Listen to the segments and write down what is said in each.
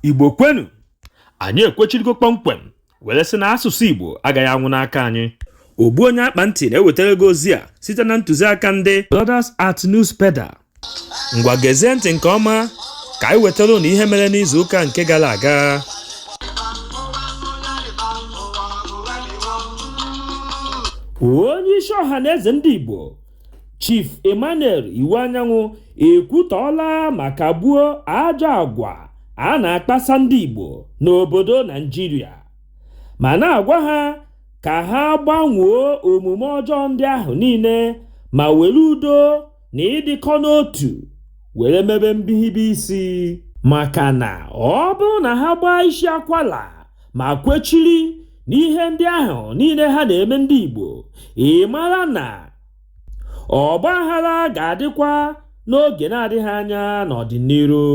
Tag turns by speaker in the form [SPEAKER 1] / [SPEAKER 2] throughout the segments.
[SPEAKER 1] igbo kwenu anyị ekwechirigo kpọmkwem were sị na asụsụ igbo agaghị anwụ n'aka anyị ogbu onye akpa ntị na-ewetara gị ozi a site na ntụziaka ndị Brothers at Newspeda ngwa gezie ntị nke ọma ka anyị wetara ụnụ ihe mere n'izu ụka nke gara aga onye isi Ọhanaeze ndị Igbo Chief Emmanuel Iwuanyanwụ ekwutọọla ma kagbuo ajọ agwa a na-akpasa ndị Igbo n'obodo Naịjirịa ma na-agwa ha ka ha gbanwoo omume ọjọọ ndị ahụ niile ma were udo na ịdịkọ n'otu were mebe mbihibe isi maka na ọ bụrụ na ha gbaa isi akwala ma kwechiri n'ihe ndị ahụ niile ha na-eme ndị Igbo ị mara na ọgbaaghara ga-adịkwa n'oge na-adịghị anya n'ọdịniru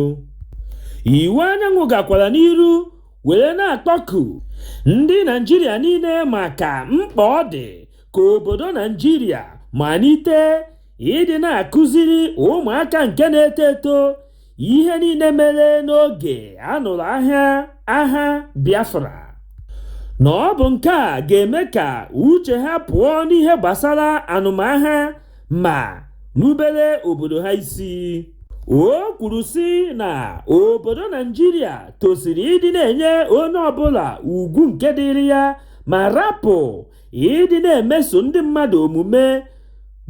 [SPEAKER 1] Iwuanyanwụ gakwara n'iru were na-akpọku ndị Naịjirịa niile maka mkpa ọ dị ka obodo Naịjirịa malite ịdị na-akụziri ụmụaka nke na-eto eto ihe niile mere n'oge a nụrụ aha agha Biafra na ọ bụ nke a ga-eme ka uche ha pụọ n'ihe gbasara anụmagha ma rubere obodo ha isi o kwuru sị na obodo Naịjirịa tosiri ịdị na-enye onye ọbụla ugwu nke dịrị ya ma rapụ ịdị na-emeso ndị mmadụ omume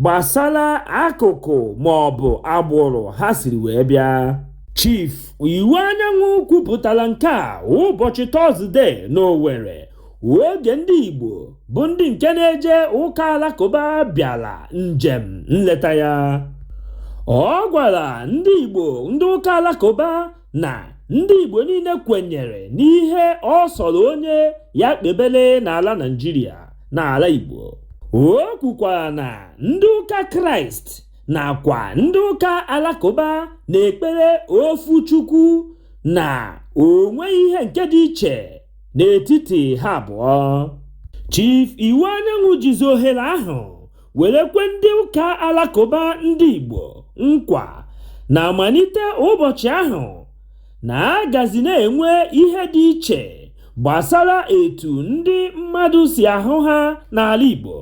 [SPEAKER 1] gbasara akụkụ ma ọ bụ agbụrụ ha siri wee bịa Chief Iwuanyanwụ kwupụtara nke a ụbọchị Tọzdee n'Owerri oge ndị Igbo bụ ndị nke na-eje ụka alakụba bịara njem nleta ya ọ gwara ndị Igbo ndị ụka alakụba na ndị Igbo niile kwenyere n'ihe ọ sọrọ onye ya kpebele n'ala Naịjirịa n'ala Igbo o kwukwara na ndị ụka Kraịst nakwa ndị ụka Alakụba na-ekpere ofu Chukwu na o nweghị ihe nke dị iche n'etiti ha abụọ Chief Iwuanyanwụ jizi ohere ahụ were kwe ndị ụka alakụba ndị Igbo nkwa na a malite ụbọchị ahụ na a gazi na-enwe ihe dị iche gbasara etu ndị mmadụ si ahụ ha n'ala Igbo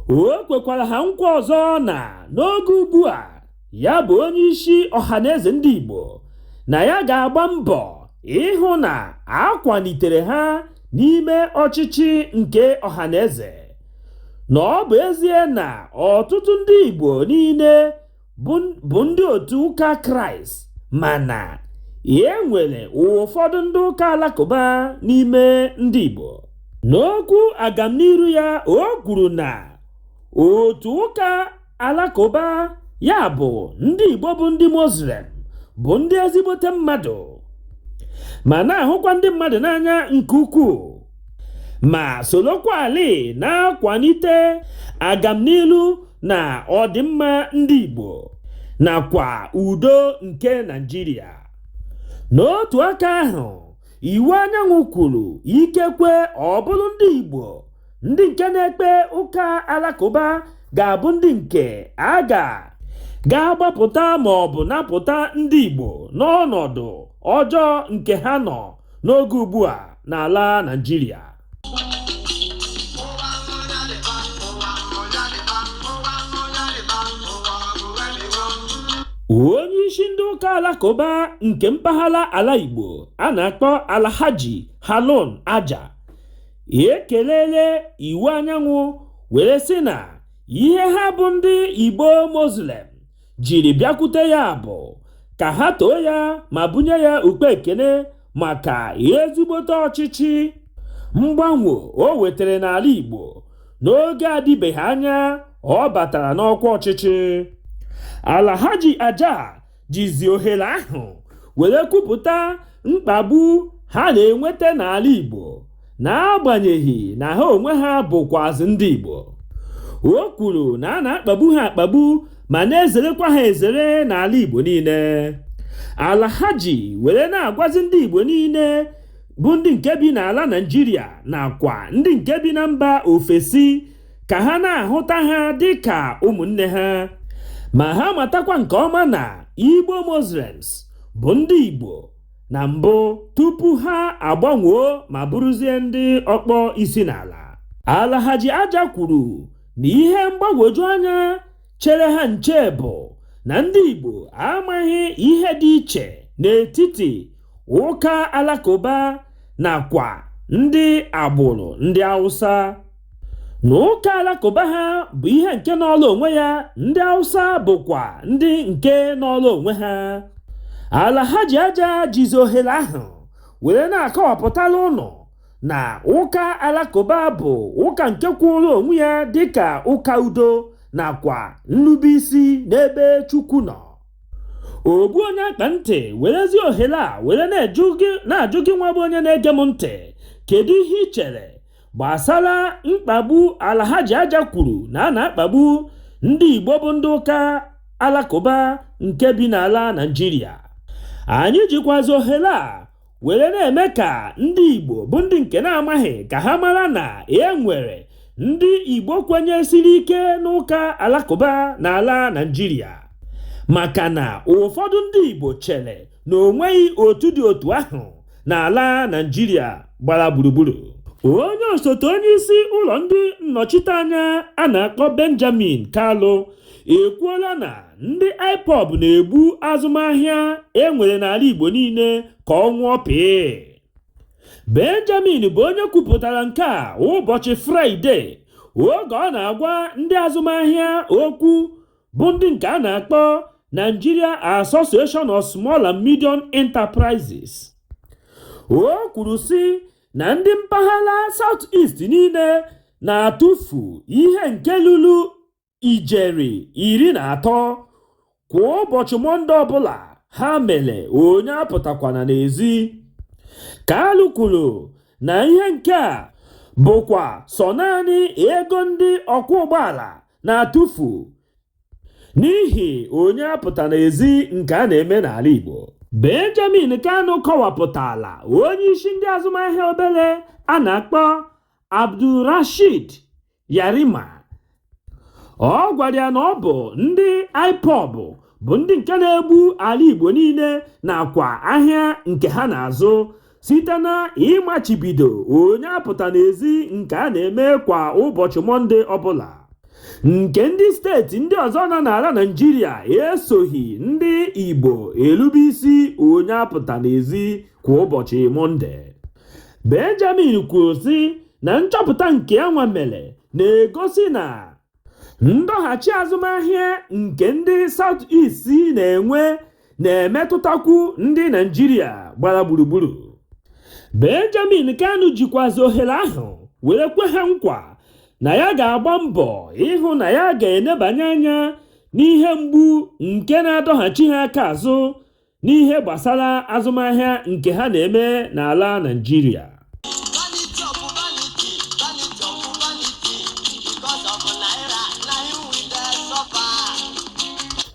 [SPEAKER 1] o kwekwara ha nkwa ọzọ na n'oge ugbu a ya bụ onye isi ọhaneze ndị Igbo na ya ga-agba mbọ ịhụ na a kwalitere ha n'ime ọchịchị nke ọhaneze na ọ bụ ezie na ọtụtụ ndị Igbo niile bụ ndị otu ụka Kraịst mana e nwere ụfọdụ ndị ụka alakụba n'ime ndị Igbo n'okwu agamniru ya o kwuru na otu ụka alakụba ya bụ ndị igbo bụ ndị muslim bụ ndị ezigbote mmadụ ma na-ahụkwa ndị mmadụ n'anya nke ukwuu ma solokwalịị na-akwalite agamnilu na ọdịmma ndị igbo nakwa udo nke Naịjirịa n'otu aka ahụ Iwuanyanwụ kwuru ikekwe ọ bụrụ ndị igbo ndị nke na-ekpe ụka alakụba ga-abụ ndị nke a ga ga-agbapụta ma ọ bụ napụta ndị Igbo n'ọnọdụ ọjọọ nke ha nọ n'oge ugbu a n'ala Naịjirịa onye isi ndị ụka alakụba nke mpaghara ala Igbo a na-akpọ Alhaji Harun Aja ekelele Iwuanyanwụ were sị na ihe ha bụ ndị igbo muslim jiri bịakwute ya bụ ka ha too ya ma bunye ya ụkpa ekene maka ezigbote ọchịchị mgbanwe o wetara n'ala igbo n'oge adịbeghị anya ọ batara n'ọkwa ọchịchị Alhaji Aja jizi ohere ahụ were kwupụta mkpagbu ha na-enweta n'ala Igbo n'agbanyeghị na ha onwe ha bụkwazị ndị Igbo o kwuru na a na-akpagbu ha akpagbu ma na-ezerekwa ha ezere n'ala Igbo niile Alhaji were na-agwazi ndị Igbo niile bụ ndị nke bi n'ala Naịjirịa nakwa ndị nke bi na mba ofesi ka ha na-ahụta ha dị ka ụmụnne ha ma ha matakwa nke ọma na Igbo Muslims bụ ndị Igbo na mbụ tupu ha agbanwoo ma bụrụzie ndị ọkpọ isi n'ala Alhaji Aja kwuru na ihe mgbagwoju anya chere ha nche bụ na ndị Igbo amaghị ihe dị iche n'etiti ụka alakụba nakwa ndị agbụrụ ndị Hausa Na ụka alakụba ha bụ ihe nke nọọlụ onwe ya, ndị Hausa bụkwa ndị nke nọọlụ onwe ha. Alhaji Aja jizi ohere ahụ were na-akọwapụtara ụnụ na ụka alakụba bụ ụka nke kwụụrụ onwe ya dịka ụka udo nakwa nrubeisi n'ebe Chukwu nọ. Ogbu onye akpa ntị werezi ohere a were na-ajụ gị nwa bụ onye na-ege m ntị, kedu ihe i chere gbasara mkpagbu Alhaji Aja kwuru na a na-akpagbu ndị Igbo bụ ndị ụka alakụba nke bi n'ala Naịjirịa anyị jikwazi ohere a were na-eme ka ndị Igbo bụ ndị nke na-amaghị ka ha mara na e nwere ndị Igbo kwenyesiri ike n'ụka alakụba n'ala Naịjirịa maka na ụfọdụ ndị Igbo chere na o nweghị otu dị otu ahụ n'ala Naịjirịa gbara gburugburu onye osote onye isi ụlọ ndị nnọchiteanya a na-akpọ Benjamin Kalu ekwuola na ndị IPOB na-egbu azụmahịa e nwere n'ala Igbo niile ka ọ nwụọ pịị Benjamin bụ onye kwupụtara nke a ụbọchị Fraịde oge ọ na-agwa ndị azụmahịa okwu bụ ndị nke a na-akpọ Nigeria Association of Small and Medium Enterprises o kwuru sị na ndị mpaghara South East niile na-atụfu ihe nke lulu ijeri iri na atọ kwa ụbọchị mọnde ọbụla ha mere onye apụtakwana n'ezi Kalu kwuru na ihe nke a bụkwa sọ naanị ego ndị ọkwọ ụgbọala na-atụfu n'ihi onye apụta n'ezi nke a na-eme n'ala Igbo Benjamin Kanu kọwapụtaala onye isi ndị azụmahịa obere a na-akpọ Abdulrashid Yarima ọ gwara ya na ọ bụ ndị IPOB bụ ndị nke na-egbu ala Igbo niile nakwa ahịa nke ha na-azụ site na ịmachibido onye apụta n'ezi nke a na-eme kwa ụbọchị mọnde ọbụla nke ndị steeti ndị ọzọ nọ n'ala naijiria esoghị ndị igbo erube isi onye apụta n'ezi kwa ụbọchị mọnde benjamin kwuru sị na nchọpụta nke ya nwa mere na-egosi na ndọghachi azụmahịa nke ndị South East na-enwe na-emetụtakwu ndị Naijiria gbara gburugburu Benjamin Kanu jikwazi ohere ahụ were kwe ha nkwa na ya ga-agba mbọ ịhụ na ya ga-enebanye anya n'ihe mgbu nke na-adọghachi ha aka azụ n'ihe gbasara azụmahịa nke ha na-eme n'ala Naịjirịa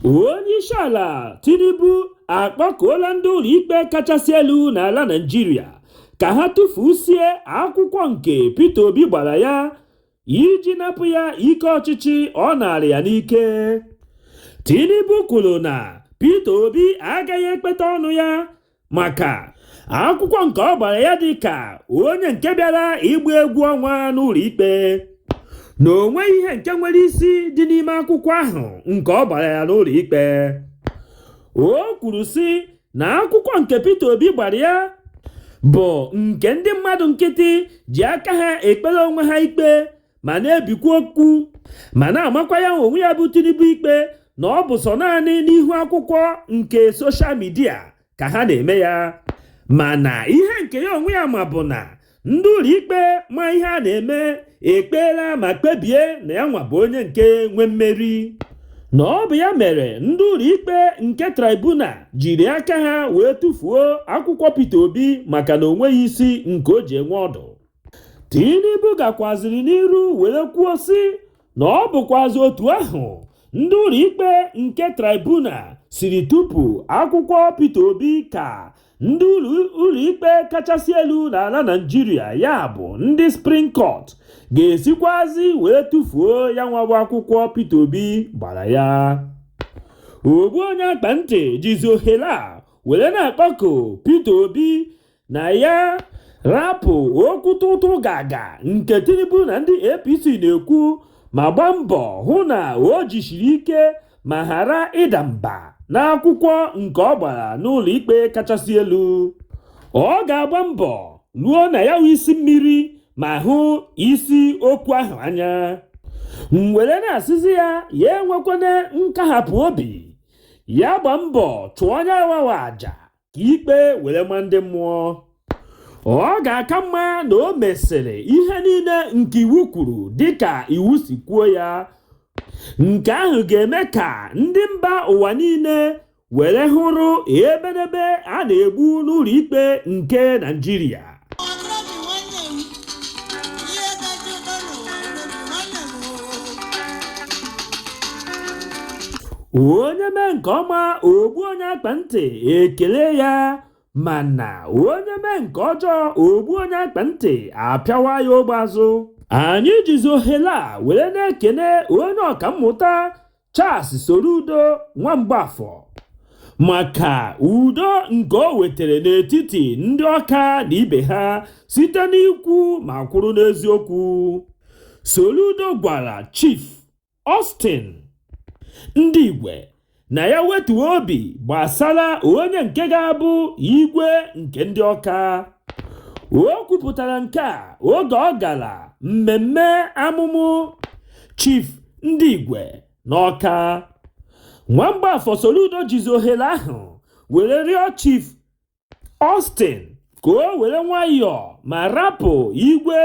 [SPEAKER 1] onyeisiala Tinubu akpọkuola ndị ụlọikpe kachasị elu n'ala Naịjirịa ka ha tụfusie akwụkwọ nke Peter Obi gbara ya iji napụ ya ike ọchịchị ọ narị ya n'ike Tinubu kwuru na Peter Obi agaghị ekpeta ọnụ ya maka akwụkwọ nke ọ gbara ya dị ka onye nke bịara ịgba egwu ọnwa n'ụlọ ikpe na o nweghị ihe nke nwere isi dị n'ime akwụkwọ ahụ nke ọ gbara ya n'ụlọ ikpe o kwuru sị na akwụkwọ nke Peter Obi gbara ya bụ nke ndị mmadụ nkịtị ji aka ha ekpere onwe ha ikpe ma na-ebikwa okwu ma na-amakwa ya onwe ya bụ Tinubu ikpe na ọ bụ sọ naanị n'ihu akwụkwọ nke soshal midia ka ha na-eme ya mana ihe nke ya onwe ya ma bụ na ndị ụlọikpe ma ihe a na-eme ekpeela ma kpebie na ya nwa bụ onye nke nwe mmeri na ọ bụ ya mere ndị ụlọikpe nke tribunal jiri aka ha wee tufuo akwụkwọ Peter Obi maka na o nweghị isi nke o ji enwe ọdụ Tinubu gakwaziri n'iru were kwuo sị na ọ bụkwazị otu ahụ ndị ụlọikpe nke tribunal siri tupu akwụkwọ Peter Obi ka ndị ụlọikpe kachasị elu n'ala Naịjirịa ya bụ ndị Supreme Court ga-esikwazi wee tufuo ya nwa bụ akwụkwọ Peter Obi gbara ya ogbu onye akpa ntị jizi ohere a were na-akpọku Peter Obi na ya rapụ okwu tụtụ gaga nke tinubu na ndị apc na-ekwu ma gba mbọ hụ na o jisiri ike ma ghara ịda mba n'akwụkwọ nke ọ gbara n'ụlọ ikpe kachasị elu ọ ga-agba mbọ ruo na ya isi mmiri ma hụ isi okwu ahụ anya m were na-asịzi ya ya enwekwana nkahapụ obi ya gba mbọ chụọ ya nwa bụ aja ka ikpe were ma ndị mmụọ ọ ga-aka mma na o mesịrị ihe niile nke iwu kwuru dịka iwu si kwuo ya nke ahụ ga-eme ka ndị mba ụwa niile were hụrụ ebenebe a na-egbu n'ụlọikpe nke Naịjirịa onye mee nke ọma ogbu onye akpa ntị ekele ya mana onye mee nke ọjọọ ogbu onye akpa ntị apịawa ya ogbe azụ anyị jizi ohere a were na-ekene onye ọkammụta Charles Soludo Nwamgbafọ maka udo nke o wetara n'etiti ndị Ọka na ibe ha site n'ikwu ma kwụrụ n'eziokwu. Soludo gwara Chief Austin Ndigwe na ya wetuo obi gbasara onye nke ga-abụ igwe nke ndị Ọka. O kwupụtara nke a oge ọ gara mmemme amụmụ Chief Ndigwe n'Ọka Nwamgbafọ Soludo jizi ohere ahụ were rịọ Chief Austin ka o were nwayọọ ma rapụ igwe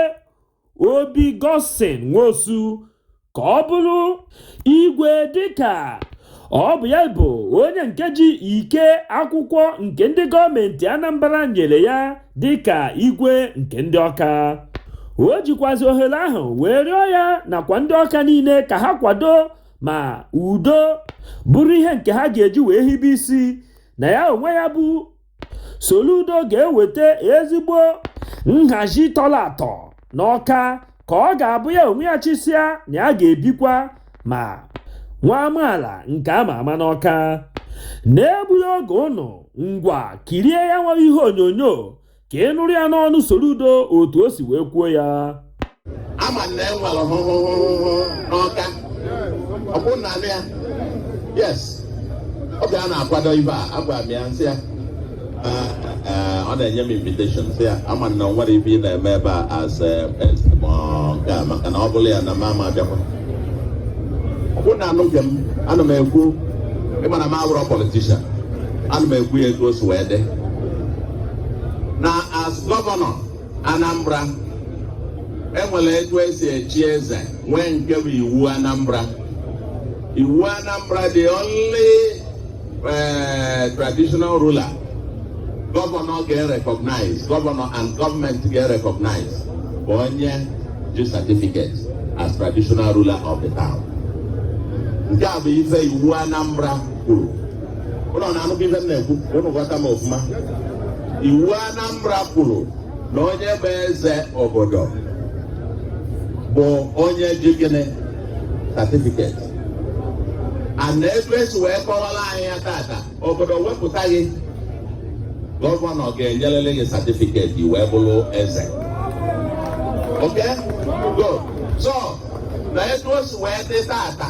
[SPEAKER 1] Obi Godson Nwosu ka ọ bụrụ igwe dịka ọ bụ ya bụ onye nke ji ike akwụkwọ nke ndị gọọmenti Anambra nyere ya dịka igwe nke ndị Ọka o jikwazi ohere ahụ wee rịọ ya nakwa ndị Ọka niile ka ha kwado ma udo bụrụ ihe nke ha ga-eji wee hibe isi na ya onwe ya bụ Soludo ga-eweta ezigbo nhazi tọrọ atọ n'Ọka ka ọ ga-abụ ya onwe ya chịsịa na ya ga-ebikwa ma nwa amaala nke a ma ama n'Ọka. N'egbughị oge ụnụ, ngwa kirie ya nwa ihe onyonyo ka ị nụrụ ya n'ọnụ Soludo otu o si wee kwuo ya.
[SPEAKER 2] ama na e nwere hụhụhụhụ n'Ọka ọkwa ụnụ na-anụ ya yes oge a na-akwado ive a agwara m ya m sị ya ọ na-enye m invitation sị ya ama na o nwere ive ị na-eme ebe a as nke a maka na ọ bụrụ ya na m ama abịakwa ọ bụ na anụghị m ana m ekwu ịma na m awụrọ politician ana m ekwu ya etu o si wee dị na as gọvanọ Anambra e nwere etu e si echi eze nwee nke bụ iwu Anambra iwu Anambra the only eh, traditional ruler governor ga-recognize governor and government ga-recognize bụ onye ji certificate as traditional ruler of the town nke a bụ ife iwu Anambra kwuru ụnụ na-anụkwa ihe m na-ekwu ụnụ ghọta m ọfụma iwu Anambra kwuru na onye bụ eze obodo bụ onye ji gịnị certificate and na etu e si wee kọwara anyị ya tata obodo wepụta gị gọvanọ ga-enyerịrị gị certificate wee bụrụ eze okay good so na etu o si wee dị tata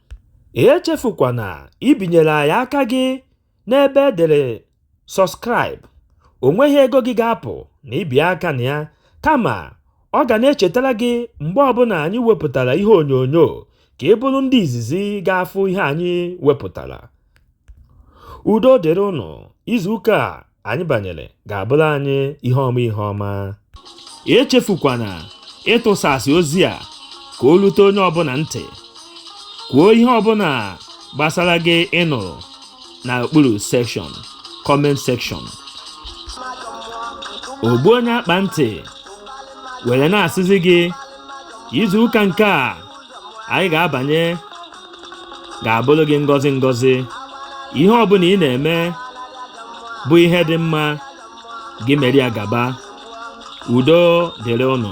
[SPEAKER 1] Echefukwana ibinyere anyị aka gị n'ebe e dere Subscribe, o nweghị ego gị ga-apụ na i bie aka na ya, kama ọ ga na-echetara gị mgbe ọbụla anyị wepụtara ihe onyonyo ka ị bụrụ ndị izizi ga-afụ ihe anyị wepụtara. Udo dịrị ụnụ, izuụka a anyị banyere ga-abụrụ anyị ihe ọma ihe ọma echefukwana ịtụsasị ozi a ka o lute onye ọbụla ntị kwuo ihe ọbụla gbasara gị ị nụrụ na okpuru section comment section ogbu onye akpa ntị were na-asịzi gị izuụka nke a anyị ga-abanye ga-abụrụ gị ngọzi ngọzi ihe ọbụla ị na-eme bụ ihe dị mma gị mere ya gaba udo dịrị ụnụ